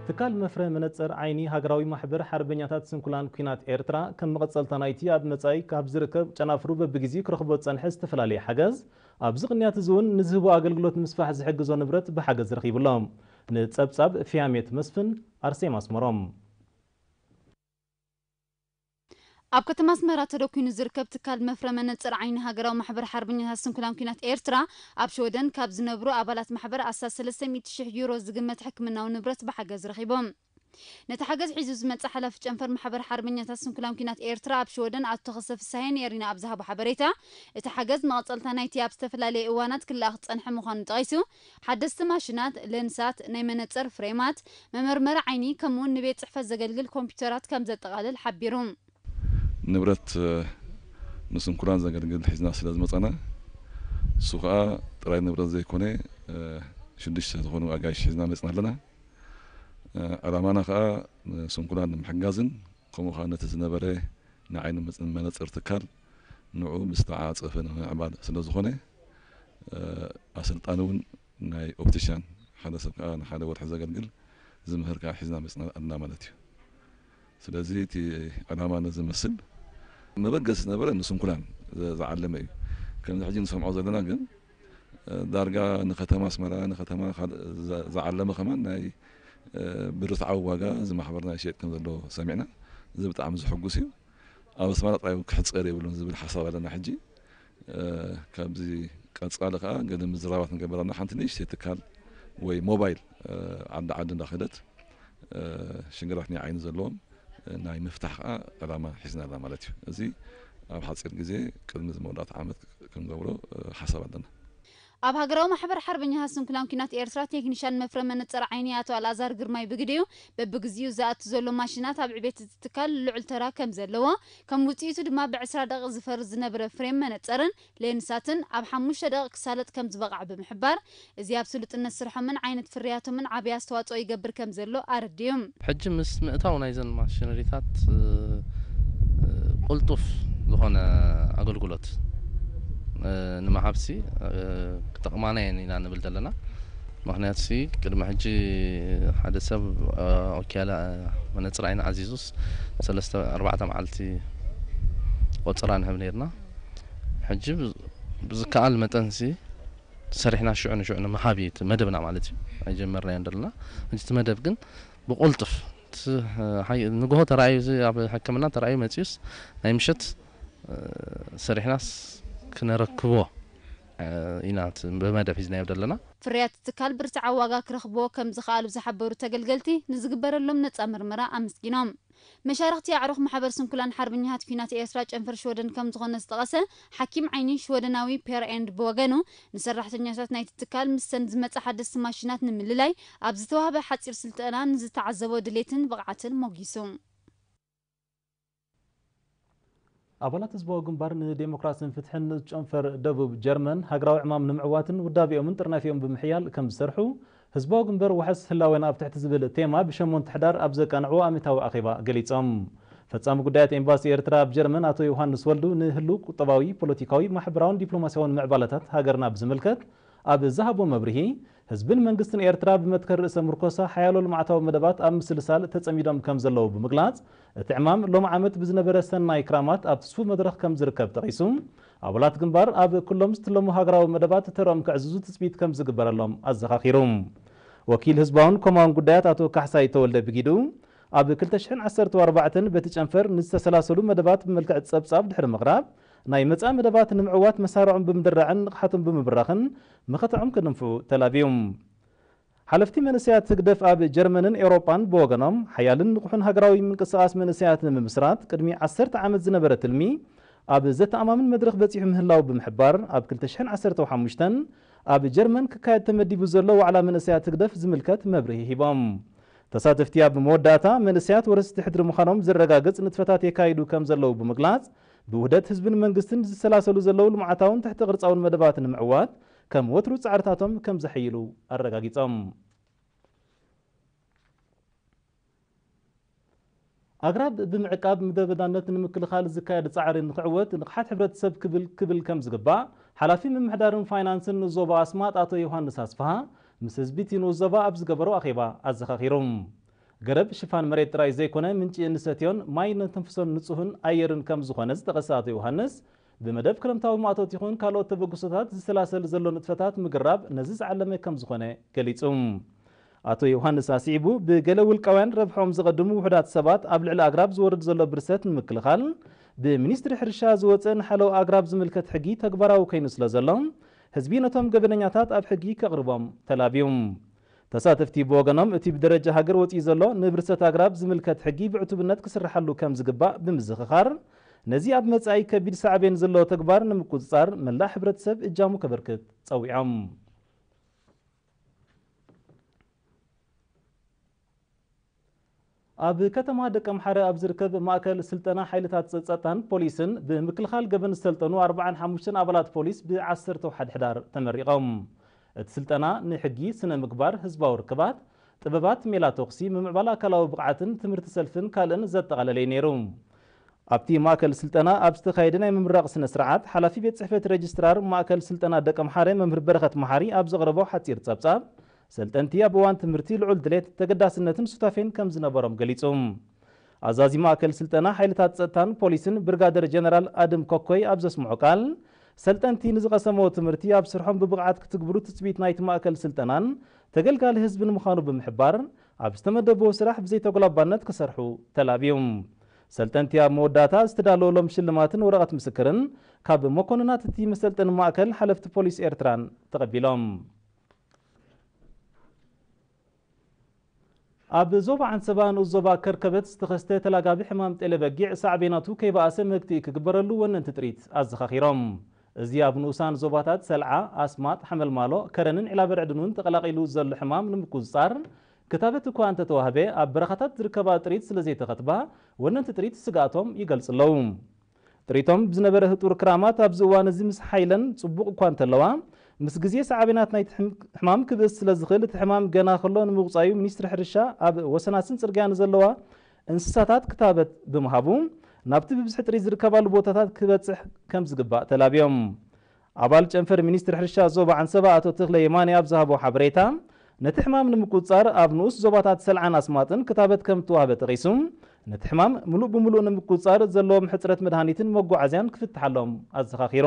ትካል መፍረ መነጸር ዓይኒ ሃገራዊ ማሕበር ሓርበኛታት ስንኩላን ኩናት ኤርትራ ከም መቐጸልታ ናይቲ ኣብ መጻኢ ካብ ዝርከብ ጨናፍሩ በብጊዚኡ ክረኽቦ ዝጸንሐ ዝተፈላለየ ሓገዝ ኣብዚ ቅንያት እዚ ውን ንዝህቦ ኣገልግሎት ንምስፋሕ ዝሕግዞ ንብረት ብሓገዝ ረኺቡ ኣሎ ንጸብጻብ ፊያሜት መስፍን ኣርሴማ ኣስመሮም። ኣብ ከተማ ኣስመራ ተደኲኑ ዝርከብ ትካል መፍረ መነጽር ዓይኒ ሃገራዊ ማሕበር ሓርበኛታት ስንኩላን ኲናት ኤርትራ፣ ኣብ ሽወደን ካብ ዝነብሩ ኣባላት ማሕበር ኣስታት ሰለስተ ሚእቲ ሽሕ ዩሮ ዝግመት ሕክምናዊ ንብረት ብሓገዝ ረኺቦም። ነቲ ሓገዝ ሒዙ ዝመጽኣ ሓላፊ ጨንፈር ማሕበር ሓርበኛታት ስንኩላን ኲናት ኤርትራ ኣብ ሽወደን ኣቶ ተኸስተ ፍስሃየ ንኤሪና ኣብ ዝሃቦ ሓበሬታ፣ እቲ ሓገዝ መቐጸልታ ናይቲ ኣብ ዝተፈላለየ እዋናት ክለኣኽ ዝጸንሐ ምዃኑ ጠቒሱ፣ ሓደስቲ ማሽናት፣ ለንሳት፣ ናይ መነጽር ፍሬማት፣ መመርመሪ ዓይኒ ከምኡ'ውን ንቤት ጽሕፈት ዘገልግል ኮምፒዩተራት ከም ዘጠቓልል ሓቢሩ። ንብረት ንስንኩላን ዘገልግል ሒዝና ስለ ዝመጻና፣ ንሱ ከኣ ጥራይ ንብረት ዘይኮነ ሽዱሽተ ዝኾኑ ኣጋይሽ ሒዝና መጺና ኣለና። ዕላማና ከኣ ንስንኩላን ንምሕጋዝን ከምኡ ከኣ ነቲ ዝነበረ ናይ ዓይኒ መነጽር ትካል፣ ንዕኡ ብዝተዓፃፀፈ ንምምዕባል ስለዝኾነ ኣሰልጣኒ ውን ናይ ኦፕቲሻን ሓደ ሰብ ከዓ ንሓደ ወርሒ ዘገልግል ዝምህር ከዓ ሒዝና መፂና ኣልና ማለት እዩ። ስለዚ እቲ ዕላማ ነዚ መስል። መበገሲ ዝነበረ ንስንኩላን ዝዓለመ እዩ። ከምዚ ሕጂ ንሰምዖ ዘለና ግን ዳርጋ ንከተማ ኣስመራ ንከተማ ካልእ ዝዓለመ ከማን ናይ ብርትዓዊ ዋጋ እዚ ማሕበርና ይሸየጥ ከምዘሎ ሰሚዕና እዚ ብጣዕሚ ዘሕጉስ እዩ። ኣብ ኣስመራ ጥራይ ውን ክሕጸር የብሉን ዝብል ሓሳብ ኣለና ሕጂ ካብዚ ቀጻሊ ከኣ ገለ ምዝራባት ንገበር ኣለና ሓንቲ ንእሽተይ ትካል ወይ ሞባይል ዓዲ ዓዲ እንዳኸደት ሽግራት ናይ ዓይኒ ዘለዎም ናይ ምፍታሕ ከዓ ዕላማ ሒዝና ኣላ ማለት እዩ እዚ ኣብ ሓፂር ግዜ ቅድሚ መወዳእታ ዓመት ክንገብሮ ሓሳብ ኣለና ኣብ ሃገራዊ ማሕበር ሓርበኛታት ስንኩላን ኲናት ኤርትራ ቴክኒሻን መፍረ መነጸር ዓይኒ ኣቶ ኣልኣዛር ግርማይ ብግዲኡ፣ በብግዜኡ ዝኣቱ ዘሎ ማሽናት ኣብ ዕቤት እቲ ትካል ልዑል ተራ ከም ዘለዎ፣ ከም ውጽኢቱ ድማ ብዕስራ ደቒቕ ዝፈርስ ዝነበረ ፍሬም መነጸርን ሌንሳትን ኣብ ሓሙሽተ ደቒቕ ክሳለጥ ከም ዝበቕዐ ብምሕባር፣ እዚ ኣብ ስሉጥነት ስርሖምን ዓይነት ፍርያቶምን ዓቢ ኣስተዋጽኦ ይገብር ከም ዘሎ ኣረዲኡ። ሕጂ ምስ ምእታው ናይዘን ማሽነሪታት ቅልጡፍ ዝኾነ ኣገልግሎት ንምሃብሲ ክጠቕማና እየን ኢና ንብል ዘለና። ምኽንያቱሲ ቅድሚ ሕጂ ሓደ ሰብ ኦኪያለ መነጽር ዓይኒ ኣዚዙስ ሰለስተ ኣርባዕተ መዓልቲ ቆጸራ ንህብ ኔርና። ሕጂ ብዝከኣል መጠንሲ፣ ሰሪሕና ሽዑ ንሽዑ ንምሃብ እዩ እቲ መደብና ማለት እዩ ኣይጀመርናዮን ደለና ሕጂ እቲ መደብ ግን ብቁልጡፍ እቲ ሓይ- ንግሆ ተራእዩ እዚ ኣብ ሕክምና ተራእዩ መጺኡስ ናይ ምሸት እ፣ ሰሪሕናስ ክነረክቦ እ፣ ኢና እቲ ብመደብ ሒዝናዮ ደለና። ፍርያት እቲ ትካል ብርትዓዊ ዋጋ ክረኽብዎ ከምዝኸኣሉ ዝሓበሩ ተገልገልቲ፣ ንዝግበረሎም ነጻ ምርመራ ኣመስጊኖም። መሻርኽቲ ኣዕሩኽ ማሕበር ስንኩላን ሓርበኛታት ኲናት ኤርትራ ጨንፈር ሽወደን ከም ዝኾነ ዝጠቐሰ ሓኪም ዓይኒ ሽወደናዊ ፔር ኤንድ ብወገኑ ንሰራሕተኛታት ናይቲ ትካል ምስተን ዝመጻ ሓደስቲ ማሽናት ንምልላይ ኣብ ዝተዋህበ ሓጺር ስልጠና ንዝተዓዘቦ ድሌትን ብቕዓትን ሞጊሱ። ኣባላት ህዝባዊ ግንባር ንዴሞክራስን ፍትሕን ንኡስ ጨንፈር ደቡብ ጀርመን ሃገራዊ ዕማም ንምዕዋትን ውዳቤኦምን ጥርናፌኦም ብምሕያል ከምዝሰርሑ ህዝባዊ ግንበር ዋሕስ ህላዌና ኣብ ትሕቲ ዝብል ቴማ ብ ሸሞንተ ሕዳር ኣብ ዘቃንዕዎ ኣሜታዊ ኣኼባ ገሊጾም። ፈጻሚ ጉዳያት ኤምባሲ ኤርትራ ኣብ ጀርመን ኣቶ ዮውሃንስ ወልዱ ንህሉው ቁጠባዊ፣ ፖለቲካዊ፣ ማሕበራውን ዲፕሎማስያውን ምዕባለታት ሃገርና ብዝምልከት ኣብ ዝሃቦ መብርሂ፣ ህዝብን መንግስትን ኤርትራ ብመትከል ርእሰ ምርኮሳ ሓያሎ ልምዓታዊ መደባት ኣብ ምስልሳል ተጸሚዶም ከም ዘለዉ ብምግላጽ፣ እቲ ዕማም ሎሚ ዓመት ብዝነበረ ሰናይ ክራማት ኣብ ትስፉው መድረኽ ከም ዝርከብ ጠቒሱ፣ ኣባላት ግንባር ኣብ ኩሎም ዝትለሙ ሃገራዊ መደባት ተርኦም ከዕዝዙ ትጽቢት ከም ዝግበረሎም ኣዘኻኺሩ። ወኪል ህዝባውን ኮማውን ጉዳያት ኣቶ ካሕሳይ ተወልደ ብጊዱ፣ ኣብ ክልተ ሽሕን ዓሰርተው ኣርባዕተን በቲ ጨንፈር ንዝተሰላሰሉ መደባት ብመልክዕ ጸብጻብ ድሕሪ ምቕራብ፣ ናይ መጻኢ መደባት ንምዕዋት መሳርዖም ብምድራዕን ንቕሓቶም ብምብራኽን መኸተዖም ክድንፍዑ ተላብዩ። ሓለፍቲ መንእሰያት ህግደፍ ኣብ ጀርመንን ኤውሮጳን ብወገኖም፣ ሓያልን ንቑሕን ሃገራዊ ምንቅስቓስ መንእሰያት ንምምስራት ቅድሚ ዓሰርተ ዓመት ዝነበረ ትልሚ ኣብ ዘተኣማምን መድረኽ በጺሑ ምህላዉ ብምሕባር፣ ኣብ ክልተ ሽሕን ዓሰርተው ሓሙሽተን ኣብ ጀርመን ክካየድ ተመዲቡ ዘሎ ዋዕላ መንእሰያት ህግደፍ ዝምልከት መብርሂ ሂቦም። ተሳተፍቲ ኣብ መወዳእታ፣ መንእሰያት ወረስቲ ሕድሪ ምዃኖም ዘረጋግጽ ንጥፈታት የካይዱ ከምዘለዉ ብምግላጽ፣ ብውህደት ህዝብን መንግስትን ዝሰላሰሉ ዘለዉ ልምዓታውን ትሕተ ቅርፃውን መደባት ንምዕዋት ከም ወትሩ ፃዕርታቶም ከም ዘሐይሉ ኣረጋጊፆም። ኣግራብ ብምዕቃብ ምድረ በዳነት ንምክልኻል ዝካየድ ፃዕሪ ንክዕወት ንቕሓት ሕብረተሰብ ክብል ክብል ከም ዝግባእ ሓላፊ ምምሕዳርን ፋይናንስን ዞባ ኣስማጥ ኣቶ ዮሃንስ ኣስፍሃ ምስ ህዝቢ እቲ ንኡስ ዞባ ኣብ ዝገበሮ ኣኼባ ኣዘኻኺሩ። ገረብ ሽፋን መሬት ጥራይ ዘይኮነ ምንጪ እንሰትዮን ማይ እነተንፍሶን ንጹህን ኣየርን ከም ዝኾነ ዝጠቐሰ ኣቶ ዮውሃንስ፣ ብመደብ ክረምታዊ ማእቶት ይኹን ካልኦት ተበግሶታት ዝሰላሰል ዘሎ ንጥፈታት ምግራብ ነዚ ዝዓለመ ከም ዝኾነ ገሊጹ። ኣቶ ዮውሃንስ ኣስዒቡ፣ ብገለ ውልቃውያን ረብሕኦም ዘቐድሙ ውሑዳት ሰባት ኣብ ልዕሊ ኣግራብ ዝወርድ ዘሎ ብርሰት ንምክልኻል ብሚኒስትሪ ሕርሻ ዝወጸ ንሓለዋ ኣግራብ ዝምልከት ሕጊ ተግባራዊ ከይኑ ስለ ዘሎ፣ ህዝቢ ነቶም ገበነኛታት ኣብ ሕጊ ከቕርቦም ተላብዩ። ተሳተፍቲ ብወገኖም እቲ ብደረጃ ሃገር ወፂኡ ዘሎ ንብርሰት ኣግራብ ዝምልከት ሕጊ ብዕቱብነት ክስርሓሉ ከምዝግባእ ብምዝኽኻር ነዚ ኣብ መፃኢ ከቢድ ሳዕቤን ዘለዎ ተግባር ንምቁፅፃር መላእ ሕብረተሰብ እጃሙ ከበርክት ፀዊዖም። ኣብ ከተማ ደቀምሓረ ኣብ ዝርከብ ማእከል ስልጠና ሓይልታት ጸጥታን ፖሊስን ብምክልኻል ገበን ዝሰልጠኑ ኣርብዓን ሓሙሽተን ኣባላት ፖሊስ ብ ዓሰርተ ሓድ ሕዳር ተመሪቖም። እቲ ስልጠና ንሕጊ፣ ስነ ምግባር፣ ህዝባዊ ርክባት፣ ጥበባት ሜላ ተኹሲ፣ ምምዕባል ኣካላዊ ብቕዓትን ትምህርቲ ሰልፍን ካልእን ዘጠቓለለ'ዩ ነይሩ። ኣብቲ ማእከል ስልጠና ኣብ ዝተኻየደ ናይ ምምራቕ ስነ ስርዓት፣ ሓላፊ ቤት ጽሕፈት ረጅስትራር ማእከል ስልጠና ደቀምሓረ መምህር በረኸት መሓሪ ኣብ ዘቕረቦ ሓጺር ጸብጻብ፣ ሰልጠንቲ ኣብ እዋን ትምህርቲ ልዑል ድሌት፣ ተገዳስነትን ሱታፌን ከም ዝነበሮም ገሊጹ። ኣዛዚ ማእከል ስልጠና ሓይልታት ጸጥታን ፖሊስን ብርጋደር ጀነራል ኣድም ኮኮይ ኣብ ዘስምዖ ቃል፣ ሰልጠንቲ ንዝቐሰምዎ ትምህርቲ ኣብ ስርሖም ብብቕዓት ክትግብሩ ትጽቢት ናይቲ ማእከል ስልጠናን ተገልጋሊ ህዝብን ምዃኑ ብምሕባር፣ ኣብ ዝተመደብዎ ስራሕ ብዘይተጎላባነት ክሰርሑ ተላብዩ። ሰልጠንቲ ኣብ መወዳእታ ዝተዳለወሎም ሽልማትን ወረቐት ምስክርን ካብ መኮንናት እቲ መሰልጠኒ ማእከል ሓለፍቲ ፖሊስ ኤርትራን ተቐቢሎም። ኣብ ዞባ ዓንሰባ ንኡስ ዞባ ከርከበት ዝተኸስተ ተላጋቢ ሕማም ጤለ በጊዕ ሳዕቤናቱ ከይበኣሰ መግትኢ ክግበረሉ ወነንቲ ጥሪት ኣዘኻኺሮም። እዚ ኣብ ንኡሳን ዞባታት ሰልዓ፣ ኣስማጥ፣ ሓመልማሎ፣ ከረንን ዒላበርዕድን'ውን ተቐላቒሉ ዘሎ ሕማም ንምቁጽጻር ክታበት እኳ እንተተዋህበ ኣብ በረኻታት ዝርከባ ጥሪት ስለዘይተኸትባ ወነንቲ ጥሪት ስግኣቶም ይገልጹ'ለዉ። ጥሪቶም ብዝነበረ ህጡር ክራማት ኣብዚ እዋን እዚ ምስ ሓይለን ጽቡቕ እኳ እንተለዋ፣ ምስ ግዜ ሳዕቤናት ናይቲ ሕማም ክብእስ ስለ ዝኽእል እቲ ሕማም ገና ከሎ ንምቑጻዩ ሚኒስትሪ ሕርሻ ኣብ ወሰናስን ጽርግያ ንዘለዋ እንስሳታት ክታበት ብምሃቡ ናብቲ ብብዝሒ ጥሪት ዝርከባሉ ቦታታት ክበጽሕ ከም ዝግባእ ተላብዮም ኣባል ጨንፈር ሚኒስትሪ ሕርሻ ዞባ ዓንሰባ ኣቶ ተኽለ የማነ ኣብ ዝሃቦ ሓበሬታ፣ ነቲ ሕማም ንምቁጽጻር ኣብ ንኡስ ዞባታት ሰልዓን ኣስማጥን ክታበት ከም እተዋህበ ጠቒሱ፣ ነቲ ሕማም ምሉእ ብምሉእ ንምቁጽጻር ዘለዎም ሕጽረት መድሃኒትን መጓዓዝያን ክፍትሓሎም ኣዘኻኺሩ።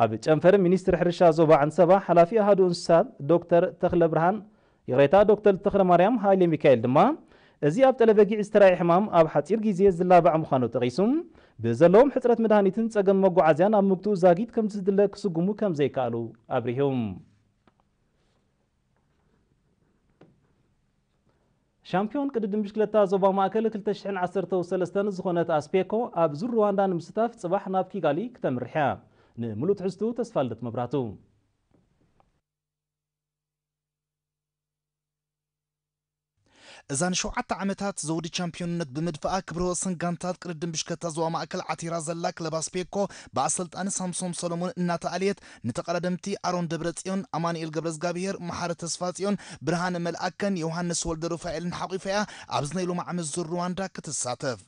ኣብ ጨንፈር ሚኒስትሪ ሕርሻ ዞባ ዓንሰባ ሓላፊ ኣሃዱ እንስሳት ዶክተር ተኽለብርሃን ይቕሬታ ዶክተር ተኽለማርያም ሃይለሚካኤል ድማ እዚ ኣብ ጠለበጊዕ ዝተራእየ ሕማም ኣብ ሓጺር ግዜ ዝላባዕ ምዃኑ ጠቒሱ፣ ብዘለዎም ሕጽረት መድሃኒትን ጸገም መጓዓዝያን ኣብ ምግትኡ ዛጊት ከምቲ ዝድለ ክስጉሙ ከም ዘይከኣሉ ኣብሪሁ። ሻምፕዮን ቅድድም ብሽክለታ ዞባ ማእከል ክልተ ሽሕን ዓሰርተው ሰለስተን ዝኾነት ኣስፔኮ ኣብ ዙር ሩዋንዳ ንምስታፍ ጽባሕ ናብ ኪጋሊ ክተምርሕ እያ። ንምሉእ ትሕዝትኡ ተስፋልደት መብራህቱ። እዛ ንሸውዓተ ዓመታት ዘውዲ ቻምፕዮንነት ብምድፋኣ ክብረ ወሰን ጋንታት ቅድድም ብሽክለታ ዞባ ማእከል ዓቲራ ዘላ ክለብ ኣስፔኮ ብኣሰልጣኒ ሳምሶም ሰሎሞን እናተኣልየት ንተቐዳደምቲ ኣሮን ደብረጽዮን፣ ኣማኑኤል ገብረዝጋብሄር፣ መሓሪ ተስፋጽዮን፣ ብርሃነ መልኣከን ዮውሃንስ ወልደሩፋኤልን ሓቒፋ'ያ ኣብዚ ናይ ሎሚ ዓመት ዙር ሩዋንዳ ክትሳተፍ።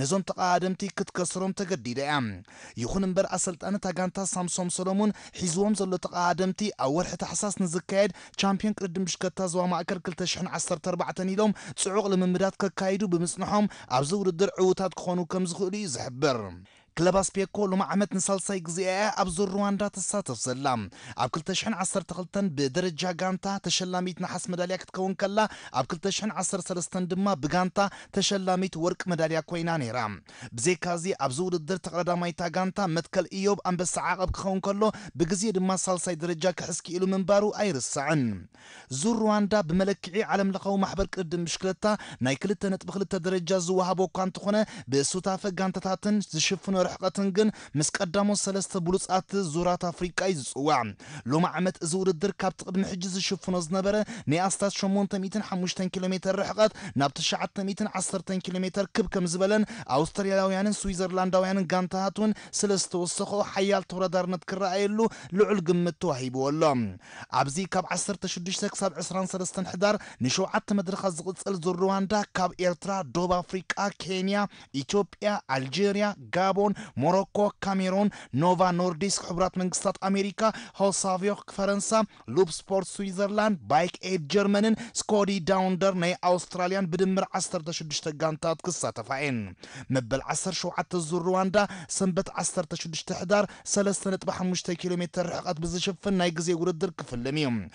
ነዞም ተቐዳደምቲ ክትከስሮም ተገዲዳ እያ። ይኹን እምበር ኣሰልጣኒ እታ ጋንታ ሳምሶም ሰሎሙን ሒዝዎም ዘሎ ተቐዳደምቲ ኣብ ወርሒ ታሕሳስ ንዝካየድ ቻምፕዮን ቅድድም ብሽከታ ዞባ ማእከል ክልተ ሽሕን ዓሰርተ ኣርባዕተን ኢሎም ጽዑቕ ልምምዳት ከካይዱ ብምጽንሖም ኣብዚ ውድድር ዕዉታት ክኾኑ ከምዝኽእሉ እዩ ዝሕብር። ክለብ ኣስፔኮ ሎሚ ዓመት ንሳልሳይ ግዜኣ እያ ኣብዚ ሩዋንዳ ትሳተፍ ዘላ። ኣብ ክልተ ሽሕን ዓሰርተ ክልተን ብደረጃ ጋንታ ተሸላሚት ነሓስ መዳልያ ክትከውን ከላ ኣብ ክልተ ሽሕን ዓሰርተ ሰለስተን ድማ ብጋንታ ተሸላሚት ወርቂ መዳልያ ኮይና ነይራ። ብዘይካ'ዚ ኣብዚ ውድድር ተቐዳዳማይ'ታ ጋንታ መትከል እዮብ ኣንበሳ ዓቐብ ክኸውን ከሎ ብግዜ ድማ ሳልሳይ ደረጃ ክሕዝ ክኢሉ ምንባሩ ኣይርሳዕን። ዙር ሩዋንዳ ብመለክዒ ዓለምለኻዊ ማሕበር ቅድድም ብሽክለታ ናይ ክልተ ነጥቢ ክልተ ደረጃ ዝወሃቦ'ኳ እንተኾነ ብሱታፈ ጋንታታትን ዝሽፍኖ ርሕቐትን ግን ምስ ቀዳሞት ሰለስተ ብሉጻት ዙራት ኣፍሪቃ እዩ ዝጽዋዕ። ሎሚ ዓመት እዚ ውድድር ካብቲ ቅድሚ ሕጂ ዝሽፍኖ ዝነበረ ናይ ኣስታት ሸሞንተ ሚእትን ሓሙሽተን ኪሎ ሜተር ርሕቐት ናብ ትሽዓተ ሚእትን ዓሰርተን ኪሎ ሜተር ክብ ከም ዝበለን ኣውስትራልያውያንን ስዊዘርላንዳውያንን ጋንታታት እውን ስለ ዝተወሰኸኦ ሓያል ተወዳዳርነት ክረኣየሉ ልዑል ግምት ተዋሂብዎ ኣሎ። ኣብዚ ካብ ዓሰርተ ሽዱሽተ ክሳብ ዕስራን ሰለስተን ሕዳር ንሸውዓተ መድረኻት ዝቕጽል ዙር ርዋንዳ ካብ ኤርትራ፣ ዶብ ኣፍሪቃ፣ ኬንያ፣ ኢትዮጵያ፣ ኣልጀርያ፣ ጋቦን፣ ሞሮኮ፣ ካሜሮን፣ ኖቫ ኖርዲስክ፣ ሕቡራት መንግስታት ኣሜሪካ፣ ሆሳቪዮክ፣ ፈረንሳ፣ ሉፕ ስፖርት፣ ስዊዘርላንድ፣ ባይክ ኤድ፣ ጀርመንን ስኮዲ ዳውንደር ናይ ኣውስትራልያን ብድምር ዓሰርተ ሽዱሽተ ጋንታት ክሳተፋ እየን። መበል ዓሰርተ ሸውዓተ ዙር ሩዋንዳ ሰንበት ዓሰርተ ሽዱሽተ ሕዳር ሰለስተ ነጥቢ ሓሙሽተ ኪሎ ሜተር ርሕቐት ብዝሽፍን ናይ ግዜ ውድድር ክፍልም እዩ።